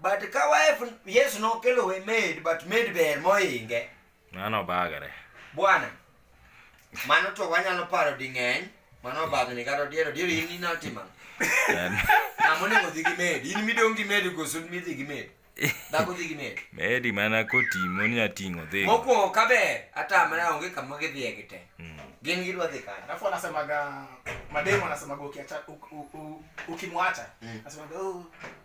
But ka wife yes nokelo we maid but maid ber moinge. Mano bagare. Bwana. Mano to wanyalo paro di ng'eny. Mano bagni kata diero diero in ina tima. Ng'ama onego dhi gi maid. In midong' gi maid koso midhi gi maid. Dhako dhi gi maid. Maid mana kotimo ni ating'o dhi. Mokwongo ka ber atamra onge kama gidhiye gi te. Mm. Gin gidwa dhi kanye. Alafu anasemaga mademo anasemaga ukiacha ukimwacha. Mm. Anasemaga oh